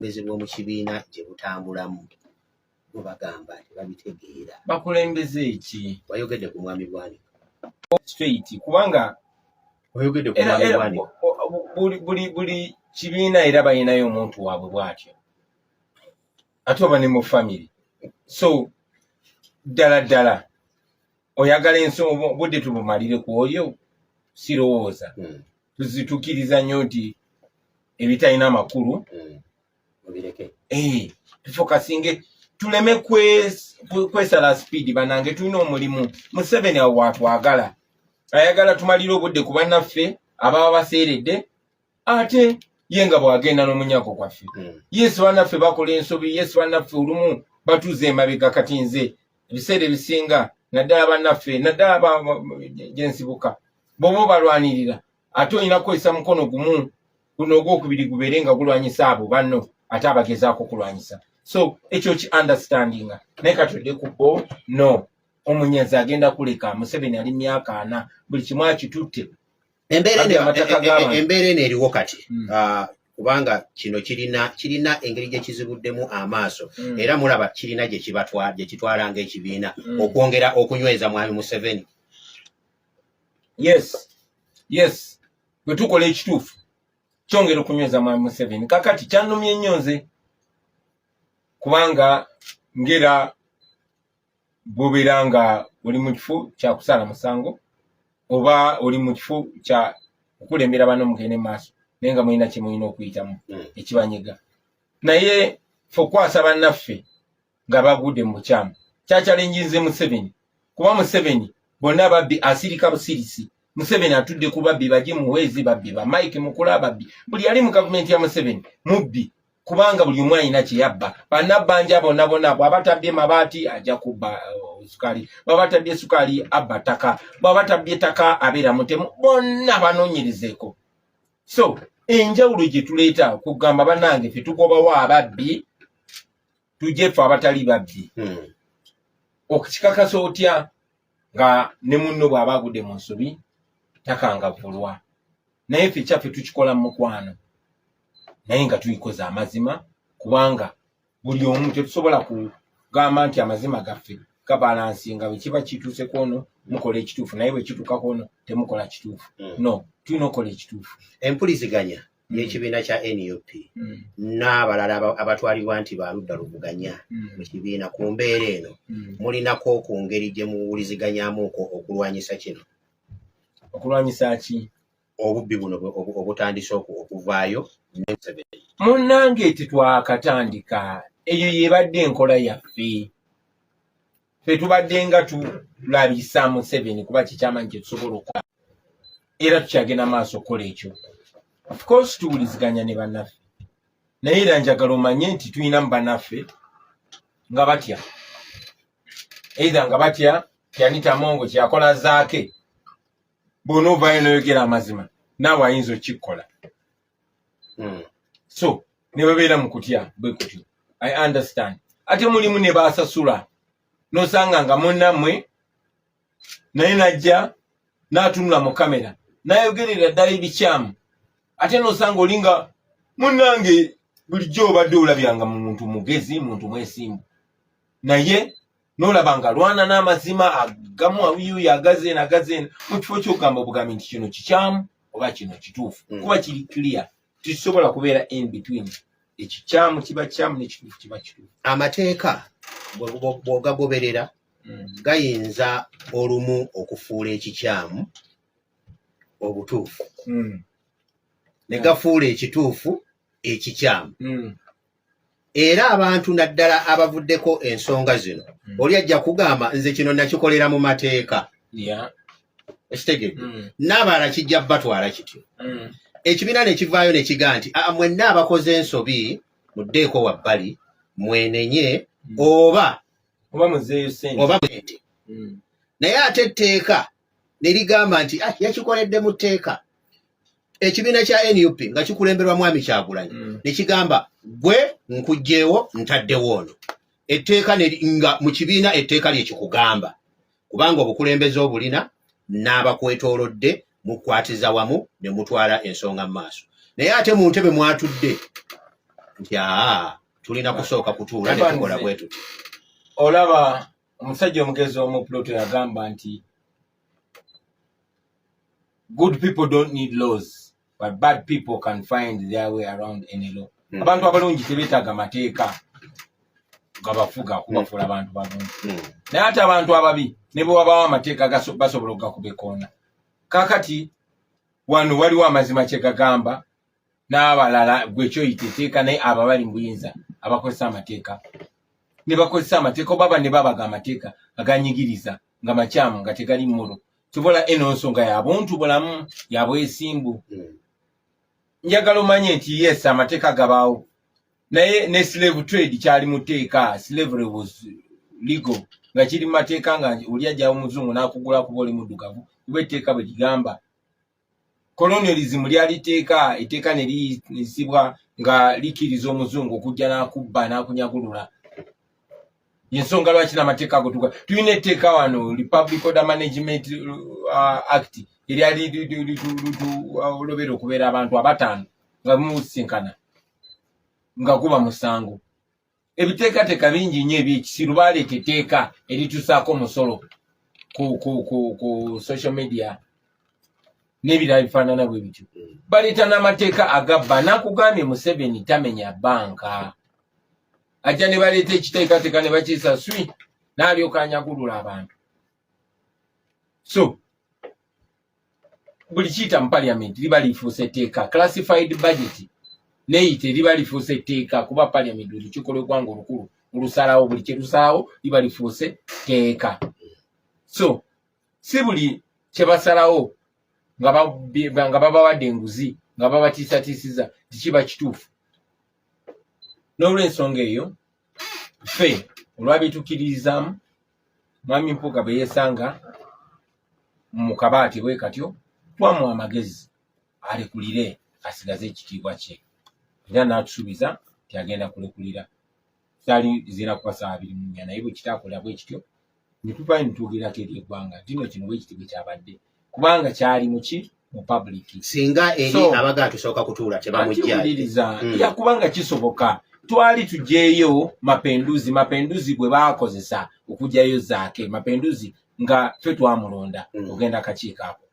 abakulembeze b'omu kibiina gye butambulamu bo bagamba nti babitegeera bakulembeze ki wayogedde ku mwami bwanika straight kubanga wayogedde ku mwami bwanika buli kibiina era balinayo omuntu waabwe bwatyo ate oba ne mu famiry so ddala ddala oyagala ensi obudde tubumalire ku oyo sirowooza hmm. tuzitukiriza nnyo nti ebitalina amakulu hmm. mubireke eh, tufokasinge tuleme kwesala sipiidi banange tulina omulimu museveni awo watwagala ayagala tumalire obudde ku bannaffe ababa baseeredde ate ye nga bw'agenda n'omunyago gwaffe hmm. yesu banaffe bakola ensobi yesu banaffe olumu batuuza emabega kati nze ebiseera ebisinga naddala banaffe naddala gyensibuka bwoba obalwanirira ate olina kukozesa mukono gumu guno ogwokubiri gubeere nga gulwanyisa abo banno ate abagezaako okulwanyisa so ekyo ki understandinga naye kati odde ku bo no omunyazi agenda kuleka museveni ali myaka ana buli kimu akitutte embeera e, e, embeera eno eriwo kati hmm. ah, kubanga kino kirina kirina engeri gye kizibuddemu amaaso hmm. era mulaba kirina gye kitwala ng'ekibiina hmm. okwongera okunyweza mwami museveni yes yes bwe tukola ekituufu kyongera okunyweza mwami museveni kakati kyanumye nnyo nze kubanga ngera bwobeera nga oli mu kifo kya kusaala musango oba oli mu kifo kya kukulembera bano mugende maaso naye nga mulina kyemulina okuyitamu hmm. ekibanyiga naye fe okukwasa bannaffe nga bagudde mu bukyamu kyakyalenjinze museveni kuba museveni bonna ababbi asirika busirisi museveni atudde ku babbi baje muhwezi babbi ba mike mukula babbi buli yali mu gavumenti ya museveni mubbi kubanga buli omu alina kyeyabba banabbanja bonna bonna bwaba tabbye mabaati ajja kubba uh, sukali bwaba tabbye sukali abba ttaka bwaba tabbye ttaka abeera mutemu bonna banonyerezeko so enjawulo gyetuleeta kugamba banange fe tugobawo ababbi tujje fe abatali babbi hmm. okukikakasa otya nga ne munno bwaba agudde mu nsobi takangavulwa naye fe kyaffe tukikola mu mukwano naye nga tuyikoza amazima kubanga buli omu tetusobola kugamba nti amazima gaffe gabalansi nga bwekiba kituuse kwono mukola ekituufu naye bwekituuka kwono temukola kituufu mm. no tulina okukola ekituufu empuliziganya mm. yekibiina kya nup mm. n'abalala abatwalibwa nti baludda luvuganya mu kibiina ku mbeera eno mulinako ku ngeri gye muwuliziganyamuko okulwanyisa kino okulwanyisa ki obubbi buno obutandise okuvaayo ne Museveni. Munnange tetwakatandika, eyo y'ebadde enkola yaffe. Ffe tubadde nga tulabisa Museveni kuba kikyamanyi kye tusobola okukola era tukyagenda maaso okukola ekyo. Of course tuwuliziganya ne bannaffe naye era njagala omanye nti tulinamu bannaffe nga batya eitha nga batya kyanitamongo kyakola zaake bwona ovayo noyogera amazima naawe ayinza okikkola hmm. so nebabeera mu kutya bwe kutyo i understand ate mulimu ne basasula nosanga nga munnamwe naye najja natunula mu kamera nayogerera ddala ebikyamu ate nosanga oli nga munnange bulijjo obadde olabyanga mu muntu mugezi muntu mwesimbu naye nolaba nga lwana n'amazima agamu awiyuya agazi eno agazi eno mu kifo ky'okugamba obugambi nti kino kikyamu oba kino kituufu mm. kuba kiri clear tekisobola kubeera in between ekikyamu kiba kyamu nekituufu kiba kituufu amateeka bwogagoberera mm. gayinza olumu okufuula ekikyamu obutuufu mm. ne gafuula ekituufu ekikyamu era abantu naddala abavuddeko ensonga zino mm. oli ajja kugamba nze kino nakikolera mu mateeka ekitegedde mm. n'abalala kijja batwala kityo mm. ekibiina ne kivaayo ne kiga nti ah, mwenna abakoze ensobi muddeeko wabbali mwenenye mm. oba oba muzeeyo sente oba sente mm. naye ate etteeka ne ligamba nti ah, yakikoledde mu tteeka ekibiina kya nup nga kikulemberwa mwami kyagulanyi mm. nekigamba gwe nkugjewo ntaddewo ono etteeka nga mu kibiina etteeka lyekikugamba kubanga obukulembeze obulina n'abakwetoolodde mukwatiza wamu ne mutwala ensonga mu maaso naye ate mu ntebe mwatudde nti aa tulina kusooka kutuula ne tukola bwetuti olaba omusajja omugezi omu puloto yagamba nti good people don't need laws but bad people can find their way around any law mm. abantu abalungi tebetaaga mateeka gabafuga kubafuula mm. abantu balungi mm. naye ate abantu ababi ne bwe wabawo amateeka basobola okugakuba ekoona kakati wano waliwo amazima kye gagamba n'abalala gwe kyoyita eteeka naye abo abali mu buyinza abakozesa amateeka ne bakozesa amateeka oba banne babaga amateeka aganyigiriza nga makyamu nga tegali mmulu tubola eno nsonga ya buntu bulamu ya bwesimbu hmm. njagala omanye nti yes amateeka gabaawo naye ne slave trade kyali mu teeka slavery was ligo nga kiri mu mateeka nga oli ajjawo muzungu n'akugula kuba oli muddugavu kuba etteeka bwe ligamba colonialism lyali teeka eteeka ne liyisibwa nga likiriza omuzungu okujja n'akubba n'akunyagulula yensonga lwaki n'amateeka ago tuga tulina etteeka wano republic order management uh, act eryali litulobeera okubeera abantu abataano nga bimusinkana nga guba musango ebiteekateeka bingi nnyo ebyekisiru baleeta etteeka eritusaako omusolo ku, ku, ku, ku social media n'ebirala bifaanana bwe bityo baleeta n'amateeka agabba nakugambye museveni tamenya banka ajja ne baleeta ekiteekateeka ne bakiisa swi n'alyoka anyagulula abantu so buli kiyita mu parliament liba lifuusa etteeka classified budget neyite liba lifuusa etteeka kuba parliament olukiiko lwegwanga olukulu olusalawo buli kyelusalawo liba lifuuse tteeka so si buli kyebasalawo nga babawadde enguzi nga babatiisatiisiza tikiba kituufu n'olwensonga eyo ffe olwabitukiririzaamu mwami mpuuga bwe yeesanga mu kabaati bwe katyo twamu amagezi alekulire asigaze ekitiibwa kye era n'atusuubiza nti agenda kulekulira tali zira kuba saa abiri munya naye bwe kitaakola bwe kityo ne tuvaayo ne twogerako eri eggwanga nti no kino bwe kiti bwe kyabadde kubanga kyali muki mu public singa eri so, abaga tusooka kutuula tebamujjairiza mm. ya kubanga kisoboka twali tujeeyo mapenduzi mapenduzi gwe baakozesa okujayo zaake mapenduzi nga fe twamulonda mm. ogenda kakiiko ako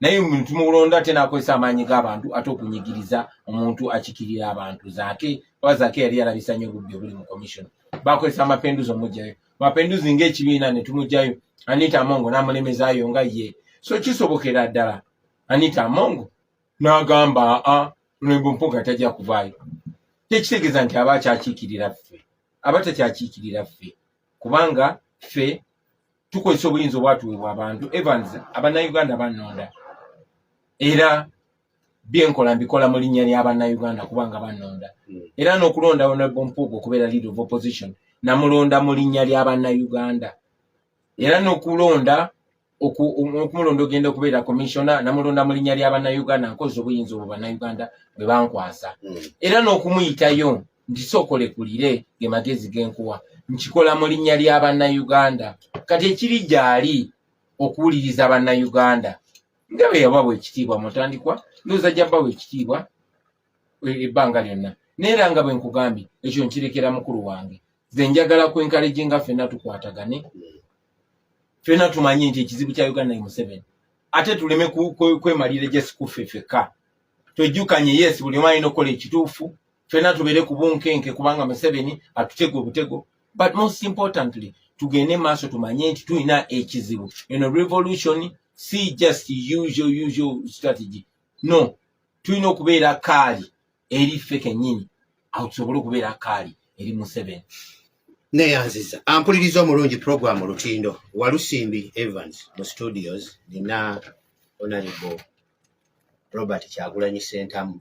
naye omuntu mulonda ate nakozesa amaanyi g'abantu ate okunyigiriza omuntu akikirira abantu zaake oba zaake yali yalabisa nyo obubbi obuli mu commission bakozesa amapenduzi omujjayo mapenduzi ng'ekibiina ne tumugyayo anita amongo n'amulemezaayo nga ye so kisobokera ddala anita amongo n'agamba a lwembo mpuga tajja kuvaayo tekitegeeza nti aba akyakiikirira ffe aba takyakiikirira ffe kubanga ffe tukozesa obuyinza obwatuweebwa abantu evans abannayuganda bannonda era byenkola mbikola mu linnya lya bannayuganda kubanga banonda hmm. era n'okulonda honorable mpuuga okubeera leader of opposition namulonda mu linnya lya bannayuganda era n'okulonda okumulonda ogenda okubeera komisiona namulonda mu linnya lya bannayuganda nkozi obuyinza obwo bannayuganda bwe bankwasa hmm. era n'okumuyitayo nti sookolekulire ge magezi genkuwa nkikola mu linnya lya bannayuganda kati ekiri gyali okuwuliriza bannayuganda nga bwe yabawa ekitiibwa mutandikwa ndowooza ajja bawa ekitiibwa e, ebbanga lyonna naye era nga bwe nkugambye ekyo nkirekera mukulu wange ze njagala kwenkaleje nga fenna tukwatagane fenna tumanye nti ekizibu kya uganda ye museveni ate tuleme kwemalira jesikufe fekka twejjukanye yes buli omu alina okukola ekituufu fena tubere kubunkenke kubanga museveni atutego obutego but most importantly tugende maaso tumanye nti tulina ekizibu eno revolution si just usual usual strategy no tulina okubeera kaali eri ffe kenyini awo tusobole okubeera kaali eri museveni neyanziza ampuliriza omulungi program olutindo walusimbi evans mu studios nina onaribo robert kyagulanyi sentamu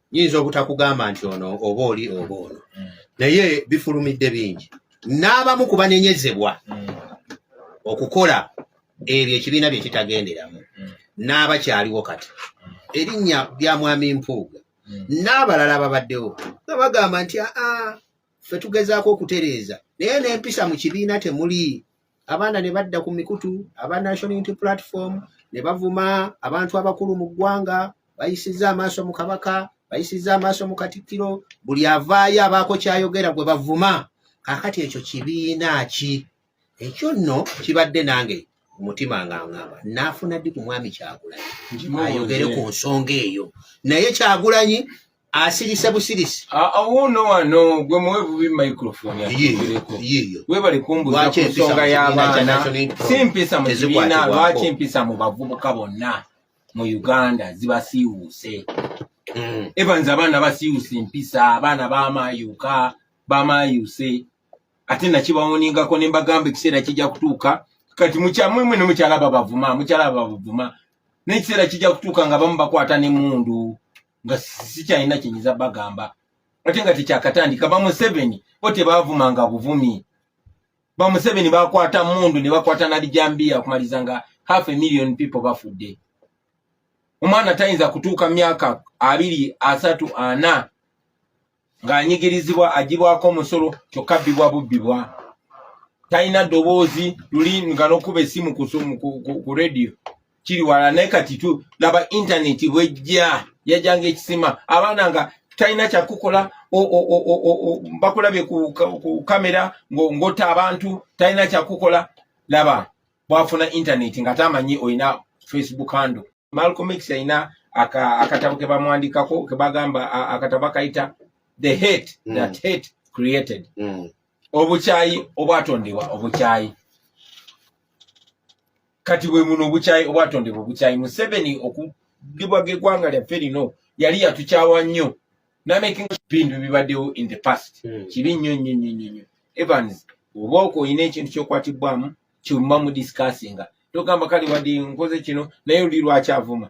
nyinza obutakugamba nti ono oba oli oba ono mm. naye bifulumidde bingi n'abamu ku banenyezebwa mm. okukola ebyo ekibiina bye kitagenderamu mm. n'abakyaliwo kati erinnya lya mwami mpuuga n'abalala babaddewo nga bagamba nti aa ffe tugezaako okutereeza naye n'empisa mu kibiina temuli abaana ne badda ku mikutu aba national unity platform ne bavuma abantu abakulu mu ggwanga bayisizza amaaso mu kabaka bayisizza amaaso mu katikkiro buli avaayo abaako kyayogera gwe bavuma kakati ekyo kibiina ki ekyo nno kibadde nange omutima nga ngamba naafuna ddi ku mwami kyagulanyi ayogere ku nsonga eyo naye kyagulanyi asirise busirisi awuuno ah, ah, wano gwe muwe bubi microphone webale kumbuza ku nsonga y'abaana si mpisa mu kibiina lwaki mpisa mu bavubuka bonna mu uganda zibasiiwuuse mm. evans abaana basiiwuuse mpisa abaana bamayuka bamayuuse ate nakibawoningako ne mbagamba ekiseera kijja kutuuka kati mukyamwe mwe ne mukyala babavuma mukyala babavuma naye ekiseera kijja kutuuka nga bamu bakwata ne mundu nga sikyalina kyenyiza bagamba ate nga tekyakatandika bamuseveni bo tebavumanga buvumi bamuseveni bakwata mundu ne bakwata nalijambiya okumaliza nga half a million people bafudde omwana tayinza kutuuka myaka abiri asatu ana ng'anyigirizibwa agibwako omusolo kyokka bbibwa bubbibwa talina ddoboozi luli nga nokuba esimu ku radio kiri wala naye kati tu laba intaneti bwejja yajanga ekisima abaana nga talina kyakukola bakulabye ku kamera ngota abantu talina kyakukola laba bwafuna intaneti nga tamanyi olina facebook handle Malcolm X yalina akatabo ke bamwandikako ke bagamba akatabo akayita the hate mm. that hate created mm. obukyayi obwatondebwa obukyayi kati bwe muno obukyayi obwatondebwa obukyayi museveni okugibwa gegwanga lyaffe lino yali yatukyawa nnyo namekbintu bibaddewo in the past hmm. kibi nnyo nnyo nnyo nnyo nnyo evans oba oko olina ekintu kyokwatibwamu kyuma mu discussinga togamba kale wadde nkoze kino naye oli lwaki avuma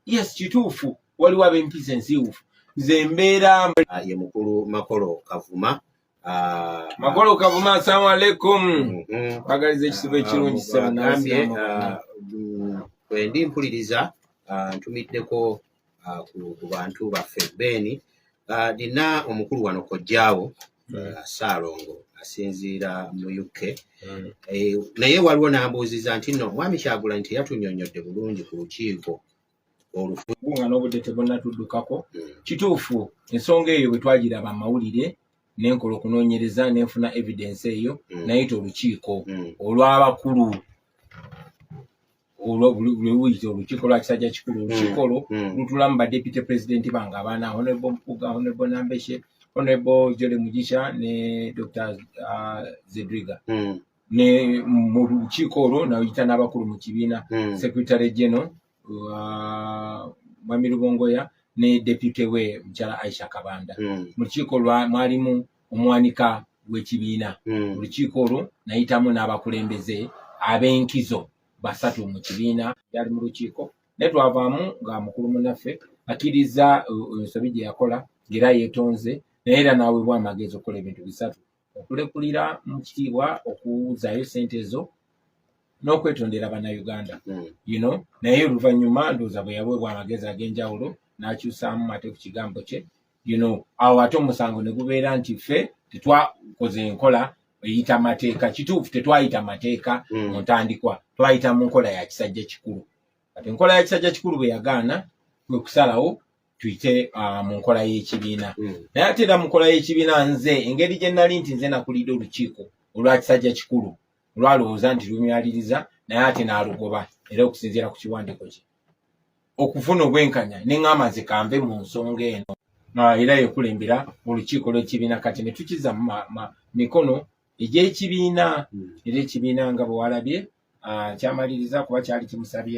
yes kituufu waliwo abempisa ensiiwufu nze mbeera ah, ye mukulu makolo kavuma ah, makolo kavuma asalamu aleikum mhm. bagaliza ekisibo ekirungi ah, mm, kwendi mpuliriza ntumiddeko uh, ku, ku bantu baffe beeni uh, nina omukulu wano kojjaawo mm. uh, saalongo asinziira mu uk mm. eh, naye waliwo nambuuziza nti no mwami kyagulanyi teyatunyonyodde bulungi ku lukiiko olufugu nga n'obudde tebunatuddukako mm. kituufu ensonga eyo bwe twagiraba amawulire nenkola okunoonyereza nenfuna evidence eyo mm. nayita olukiiko mm. olw'abakulu lwewuyita olukiiko lwa kisajja kikulu mm, olukikolo mm. lutulamu badepute pulezidenti bange abaana honebo mpuga honebo nambeshe honebo jole mugisha ne dr uh, zedriga mm. ne mu lukiiko olwo nayita n'abakulu mu kibiina secretary general uh, mwami lubongoya ne depute we mukyala aisha kabanda mu lukiiko mwalimu omwanika w'ekibiina hmm. olukiiko olwo nayitamu n'abakulembeze ab'enkizo basatu mu kibiina yali mu lukiiko naye twavaamu nga mukulu munaffe akkiriza uh, ensobi gye yakola ng'era yeetonze naye era n'aweebwa amagezi okukola ebintu bisatu okulekulira mu kitiibwa okuwuzaayo sente ezo n'okwetondera bannayuganda hmm. you know naye oluvannyuma ndowooza bwe yaweebwa amagezi ag'enjawulo n'akyusaamu ate ku kigambo kye you know awo ate omusango ne gubeera nti ffe tetwakoze enkola eyita mateeka kituufu tetwayita mateeka hmm. mu ntandikwa twayita mu nkola ya kisajja kikulu kati enkola ya kisajja kikulu bwe yagaana kwe kusalawo tuyite ah, mu nkola y'ekibiina hmm. naye ate era mu nkola y'ekibiina nze engeri gye nali nti nze nakulidde olukiiko olwa kisajja kikulu olwalowooza nti lumyaliriza naye ate n'alugoba era okusinziira ku kiwandiiko kye okufuna obwenkanya ne ŋŋamba nze kanve mu nsonga eno era yekulembera olukiiko lw'ekibiina kati ne tukiza mu mikono egy'ekibiina hmm. era ekibiina nga bwe walabye kyamaliriza kuba kyali kimusabye